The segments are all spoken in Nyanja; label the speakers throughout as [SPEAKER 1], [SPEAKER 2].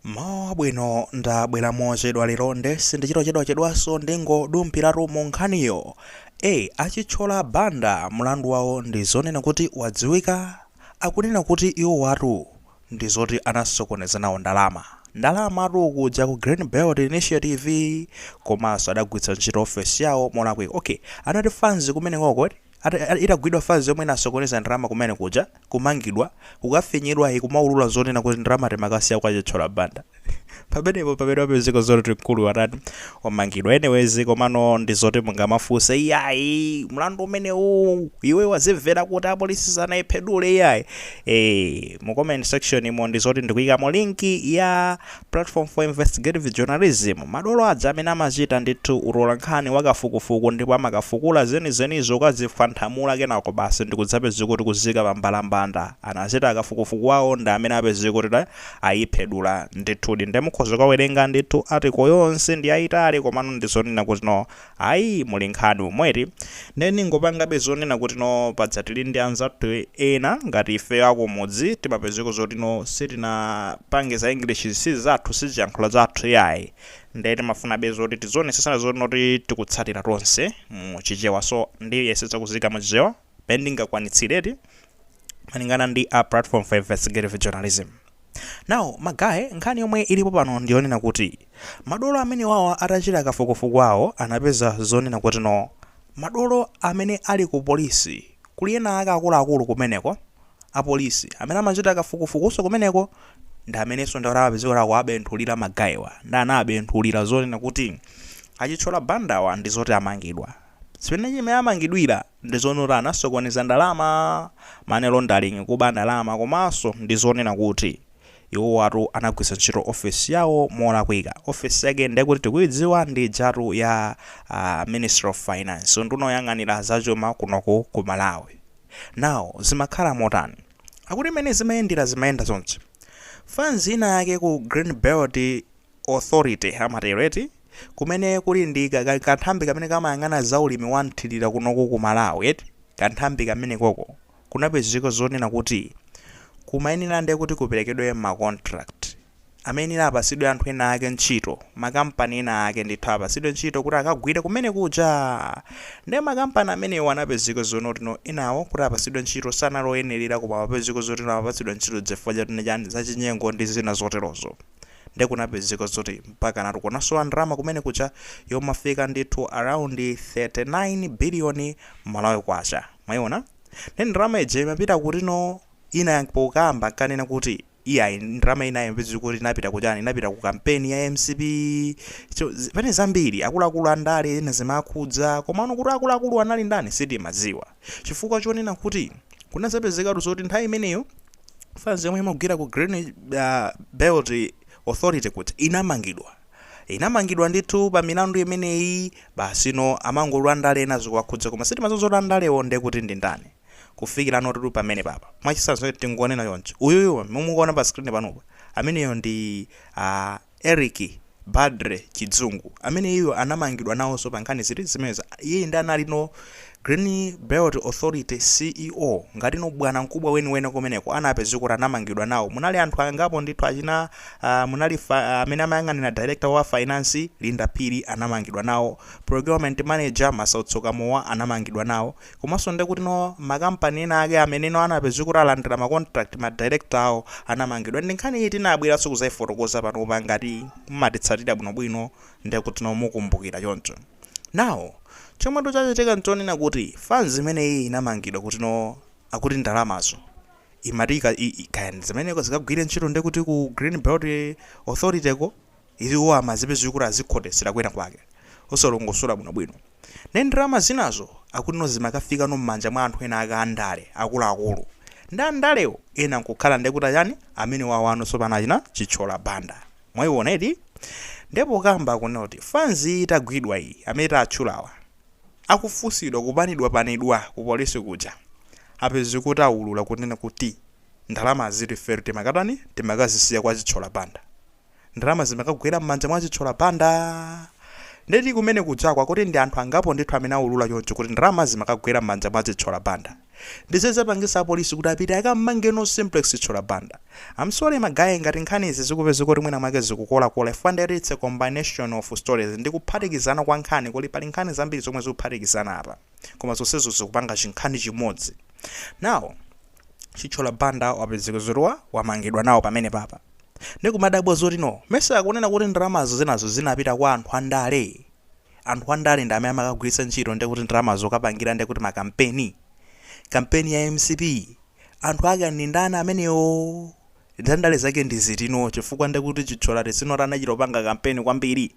[SPEAKER 1] Mmawa wabwino, ndabwera mochedwa lero nde sindichita zochedwachedwaso ndingodumphiratu mu nkhaniyo. A Chithyola Banda mulandu wawo ndi zonena kuti wadziwika? Akunena kuti iwowatu ndi zoti anasokoneza nawo ndalama, ndalamatu kuja ku Green Belt Initiative komaso adagwiritsa ntchito ofesi yawo molakwika. Ok, anati fanzi kumenekoko? Itagwidwa fanzi yomwe inasokoneza ndalama kumene kuja, kumangidwa, kukafinyidwa ikumaulula zonena kuti ndalama timakasiya kwa a Chithyola Banda. Pamenepo mpamene wapezeka zoti akuluwa atani? Amangidwa. Anyways komano ndi zoti mungamafunse iyayi mlandu umenewu iwe wazimvera kuti apolisi sanayiphedule iyayi? Mu comment section mo ndi zoti ndikuyikamo link ya Platform for Investigative Journalism, madolo aja amene amachita ndithu utolankhani wa kafukufuku ndipo amakafukula zenizenizo kukazifwanthamula kenako basi ndikudzapezeka kuti kuziika pa mbalambanda anachita kafukufuku wawo ndi amene apezeka kuti ayiphedula ndithudi nde mukhoza kukawerenga ndithu article yonse ndiyayitali komano ndizonena kuti no Ayi muli nkhani umu eti? Nde ndingopangabe zonena kuti no paja tili ndi anzathu ena ngati ifeyo akumudzi timapezeka zoti no sitinapange za English zi sizathu sichiyankhulo chathu iyayi nde timafunabe zoti tizionesesana zoti no tikutsatira tonse mu chichewa so ndiyesetsa kuziika mu chichewa mmene ndingakwanitsire eti malingana ndi a platform for investigative journalism. Now magaye nkhani yomwe ilipo pano ndiyonena kuti madolo amenewawa atachita kafukufuku awo anapeza zonena kuti no madolo amene ali ku polisi kuli ena ake akuluakulu kumeneko apolisi amene amachita kafukufukuso kumeneko ndi amenenso ndi apezeka kuti awabenthulira magayewa ndi anawabenthulira zonena kuti a Chithyola Bandawa ndi zoti amangidwa Chimene chimene amangidwira ndi zonena kuti anasokoneza ndalama, money laundering, kuba ndalama, komanso ndi zonena kuti iwowatu anagwiritsa ntchito office yawo molakwika. Office yake nde kuti tikuidziwa ndi ijatu ya a Ministry of Finance, unduna oyang'anira za chuma kunoku ku Malawi. Now zimakhala motani? Akuti mmene zimayendera zimayenda chonchi. Fans ina yake ku Green Belt, Authority amatero eti? Kumene kuli ndi ka, ka, kanthambi kamene kamayang'ana za ulimi wa mthirira kunoku ku Malawi eti? Kanthambi kamenekoko kunapezeka zonena kuti kumayenera nde kuti kuperekedwe ma contract amene apatsidwe anthu ena ake ntchito, makampani ena ake ndithu apatsidwe ntchito kuti akagwire kumene kuja. Nde makampani amenewo anapezeka zonoti no enawo kuti apatsidwe ntchito sanali oyenerera koma apezeka zoti no apatsidwa ntchito chifukwa chani, zachinyengo ndi zina zoterozo. nde kunapezeka zoti mpakanatu kunasowa ndalama kumene kuja yofika ndithu around 39 billion malawi kwacha mwaiona nde ndalama ija imapita kutino ena pokamba nkunena kuti iyayi ndalama ina imapezeka kuti inapita kuchani inapita ku kampeni ya mcp so zi- pane zambiri akuluakulu andale ena zimakhudza komano kuti akuluakulu anali ndani sitimadziwa chifukwa chonena kuti kunadzapezekatu zoti nthawi imeneyo fans yomwe imagwira ku green uh, belt authority kuti inamangidwa inamangidwa ndithu pa milandu imeneyi basino amangoti andale ena zikuwakhudza koma sitimadziwa zoti andalewo nde kuti ndi ndani kufikira nditu pamene papa mwachisanzo tingonena chonchi uyuyu mukumuona pa screen panopa ameneyo ndi uh, Eric Badre Chidzungu, amene iyeyu anamangidwa nawonso pa nkhani ziti zimenezi, iyeyu nde anali no Green Belt Authority CEO, ngati no bwana mkubwa weniweni kumeneko, anapezeka kuti anamangidwa nawo, munali anthu angapo ndithu achina munali amene amayang'anira Director wa Finance Linda Phiri anamangidwa nawo, Procurement Manager Masautso Kamowa anamangidwa nawo, Komanso nde kuti no ma company ena ake amene no anapezeka kuti alandira ma contract ma director awo anamangidwa nde nkhani iyi tinabweranso kudzaifotokoza panopa ngati mumatitsatira bwinobwino nde kuti no mukumbukira choncho now chomwe tu chachitika nchonena kuti fans imeneyi inamangidwa kuti no akuti ndalamazo imati ika, i, i, kaya ndi zimene zikagwire ntchito nde kuti ku Greenbelt Authority ko Izi iwo amadzipezeka kuti azikhotetsera kwina kwake, osalongosola bwinobwino. Ndiye ndalama zinazo akutino zimakafikano m'manja mwa anthu ena ake a ndale, akuluakulu. Ndiye a ndalewo ena nkukhala ndiye kuti achani? Amenewawano tsopano achina Chithyola Banda. Mwaiona eti? Ndiye pokamba akunena kuti fans iyi itagwidwa iyi, amene taatchulawa, akufunsidwa kupanidwapanidwa ku polisi kuja, apezeka kuti aulula kunena kuti ndalamazitu ifetu timakatani? Timakazisiya kwa Chithyola Banda. ndalama zimakagwera m'manja mwa Chithyola Banda. Ndeti kumene kujako akuti ndi anthu angapo ndithu amene aulula choncho kuti ndalama zimakagwera m'manja mwa Chithyola Banda. Ndizo zapangitsa apolisi kuti apite akammange no Simplex Chithyola Banda. I'm sorry ma guy ngati nkhani izi zikupezeka kuti mwina mwake zikukolakola chifukwa ndeti it's a combination of stories ndi kuphatikizana kwa nkhani kuti pali nkhani zambiri zomwe zikuphatikizana apa koma zonsezo zikupanga chinkhani chimodzi. Now Chithyola Banda wapezeka zoti wa wamangidwa nawo pamene papa. Ndikumadabwa zoti no mesa akunena kuti ndalamazo zinazo zinapita kwa anthu andale? Anthu andale ndi amene amakagwiritsa ntchito ndiye kuti ndalama zokapangira ndiye kuti makampeni? Kampeni ya mcp anthu ake ndi ndani amenewo? Andale ake ndi ati no chifukwa ndiye kuti Chithyola ati si not anachita kupanga kampeni kwambiri?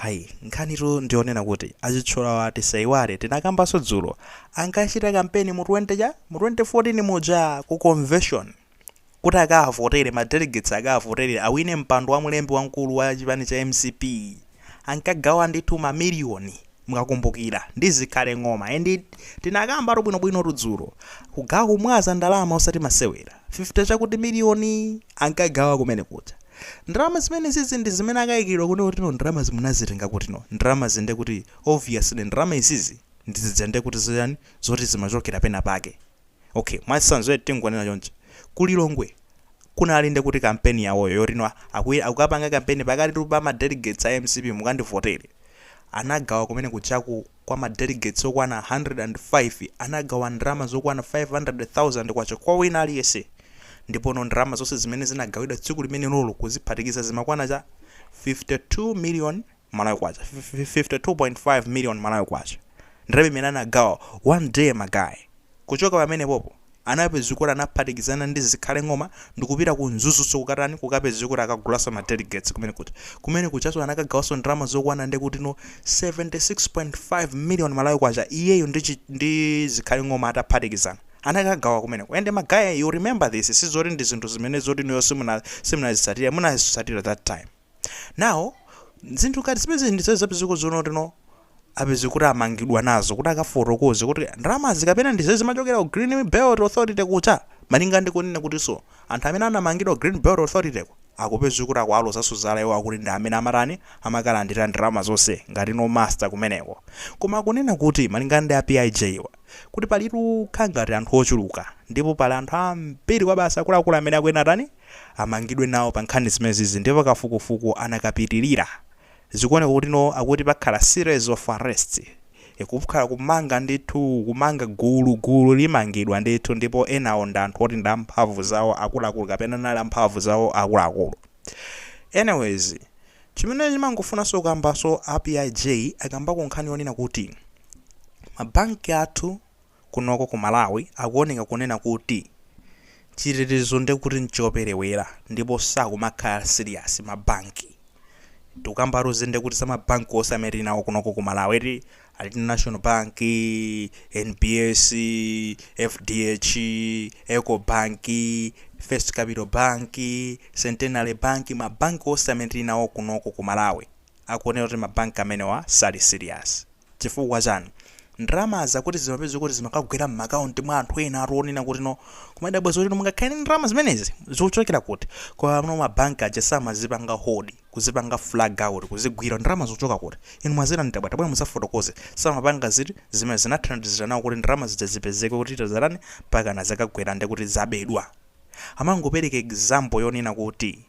[SPEAKER 1] Ayi, nkhanitu ndi yonena kuti a Chithyolawa tisaiwale tinakambanso dzulo, atachita kampeni mu 20 cha? Mu 2024 muja ku konveshoni. kuti akawavotere, ma delegates akawavotere awine mpando wa mlembi wamkulu wa chipani cha mcp ankagawa ndithu ma million mukakumbukira ndi zikhale ng'oma and tinakambatu bwinobwinotu dzulo kugawa kumwaza ndalama osati masewera 50 chakuti miliyoni ankagawa kumene kuja ndalama zimenezizi ndi zimene akayikiridwa kutino ndalamazi munazitenga kutino ndalama izi nde kuti obviously ndalama izizi ndi zizi nde kuti zoyani zoti zimachokera pena pake Ok, mwachitsanzo eti tingonena chonchi, ku Lilongwe kunali ndekuti kampeni yawoyo yoti no akukapanga kampeni pakatitu pa ma delegates a mcp mukandivotere, anagawa kumene kujaku kwa ma delegates okwana 105 anagawa ndalama zokwana K500,000 kwa wina aliyense ndipono ndalama zonse zimene zinagawidwa tsiku limenelolo kuziphatikiza zimakwana cha K52 million. Malawi Kwacha, 52.5 million Malawi Kwacha, ndalama imene anagawa one day ma guy. Kuchoka pamene popo anapezeka kuti anaphatikizana ndi Zikhale Ng'oma ndikupita ku Mzuzuso kukatani, kukapezeka kuti akagulaso ma delegates kumene kuja. Kumene kujaso anakagawaso ndalama zokwana ndekutino 76.5 million Malawi Kwacha iyeyo ndi Zikhale Ng'oma ataphatikizana. Anakagawa kumeneko and ma guy you remember this, sizoti ndi zinthu zimene zoti inuyo simuna, simunazitsatire, munazitsatira that time. Now, zinthu ngati zimenezi ndi zimene zapezeka zonotino apezeke kuti amangidwa nazo kuti akafotokoze kuti ndalamazi kapena ndi zimene zimachokera ku Green Belt Authority kuja malinga ndi kunena kutinso anthu amene anamangidwa ku Green Belt Authority ko akupezeka kuti akuwalozanso zala iwo akuti ndi amene amatani amakalandira ndalama zonse ngati no master kumeneko koma akunena kuti malinga ndi a PIJ wa kuti palitu kagulu ka anthu ochuluka ndipo pali anthu ambiri kwabasi akuluakulu amene akuyenera atani amangidwe nawo pa nkhani zimenezizi ndipo kafukufuku akanapitilira zikuoneka kuti no akuti pakhala series of arrests kukhala kumanga ndithu kumanga gulu gulu limangidwa ndithu ndipo enawo ndi anthu oti ndi amphamvu zawo akuluakulu kapena anali amphamvu zawo akuluakulu anyways chimene ndimangofunanso kukambanso a PIJ akambako nkhani yonena kuti mabanki athu kunoko ku Malawi akuoneka kunena kuti chitetezo ndekuti nchopelewela ndipo sakumakhala serious ma bank tikukambatu izi ndekuti za ma bank onse amene tili nawo kunoko ku Malawi eti alindi national bank, NBS, fdh, eco bank, first capital bank, centenary bank ma bank onse amene tili nawo kunoko ku Malawi akuoneka kuti ma bank amenewa sali serious. Chifukwa chani? Ndalamazi akuti zimapezeka kuti zimakagwera mma account mwa anthu ena atu onena kuti no kumadabwa zoti no mungakhale ndi ndalama zimenezi zikuchokera kuti? Koma pamene ma bank aja samazipanga hold, kuzipanga flag out, kuzigwira, ndalama zikuchoka kuti? Inu mwazitani? Tabwera tabwera mudzafotokoze. Samapanga ziti? Zimene zinathandizira nawo kuti ndalama zija zipezeke kuti zatani? Mpakana zakagwera ndekuti zabedwa. Amangopereka example yonena kuti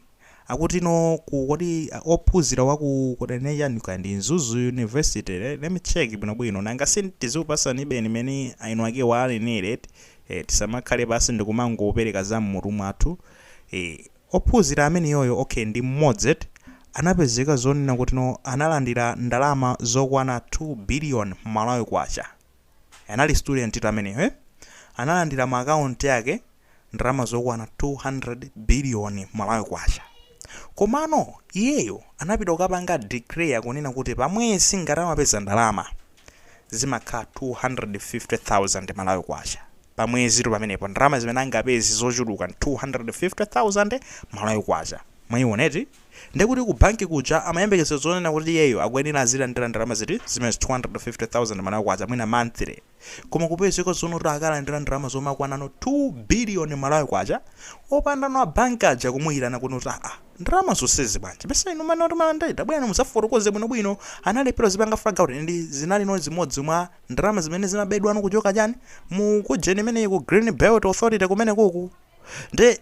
[SPEAKER 1] Akuti no ku kodi a, ophunzira wa ku kodi anene chani kaya ndi Mzuzu University le, let me check bwino bwino nanga si tizikupasanibeni mene a eni akewo anenera eti eh, tisamakhale pansi ndi kumangopereka za m'mutu mwathu eh, ophunzira ameneyoyo okay ndi mmodzi eti anapezeka zonena kuti no analandira ndalama zokwana 2 billion Malawi Kwacha Anali student tu ameneyo eh? Analandira mu account yake ndalama zokwana 2 billion Malawi kwacha. Komano iyeyo anapita kukapanga declare kunena kuti pa mwezi ngati amapeza ndalama zimakhala 250,000 Malawi kwacha. Pa mwezi tu pamenepo ndalama zimene angapeze zochuluka 250,000 Malawi kwacha. Mwaiona eti? Ndiye kuti ku banki kuja amayembekezera zonena kuti iyeyo akuyenera azilandira ndalama ziti? Zimenezi, 250,000 Malawi kwacha mwina monthly. Koma kupezeka zonena kuti akalandira ndalama zomakwanano 2 billion Malawi kwacha opandano a banki aja kumuitana kunena kuti aah, ndalama zonsezi bwanji? Mesa inu mumanena kuti mumalandira? Tabwerani mudzafotokoze bwinobwino. Analephera kuzipanga flag out ndi zinalino zimodzi mwa ndalama zimene zimabedwano kuchoka chani? Mu kujeni imeneyi ku Greenbelt Authority kumenekuku. nde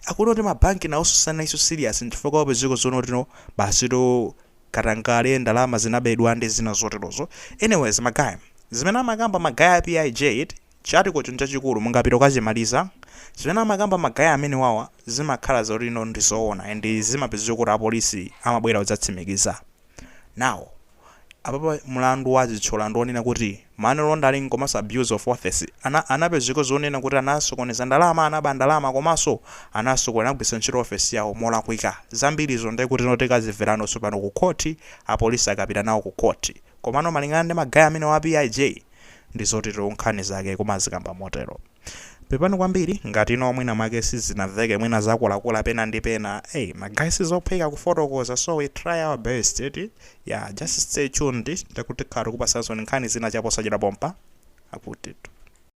[SPEAKER 1] akunena kuti mabanki nawonso sanaliso serious nchifukwa wapezeka zonena kuti no basitu katangale ndalama zinabedwa ndi zina zoterozo anyways ma guy zimene amakamba ma guy a PIJ chi article cho nchachikulu mungapite kukachimaliza zimene amakamba ma guy amenewawa zimakhala zoti no ndizoona and zimapezeka kuti apolisi amabwera kudzatsimikiza nawo Apapa mulandu wa Chithyola ndi onena kuti money laundering komanso abuse of office. Ana anapezeka zonena kuti anasokoneza ndalama, anaba ndalama komanso anasoko anagwiritsa ntchito office yawo molakwika. Zambiri izo ndiye kuti no tikazimverano tsopano ku court, a police akapita nawo ku court. Komano malingana ndi ma guy amenewa a PIJ, ndi zotero nkhani zake kumazikamba motero. Pepani kwambiri ngati no mwina mwake sizinaveke mwina zakula kula pena ndi pena ey ma guy sizophweka kufotokoza so we try our best eti yeah just stay tuned ndekuti tikhala tikupasansoni nkhani zina chaposachedwa pompa akutitu.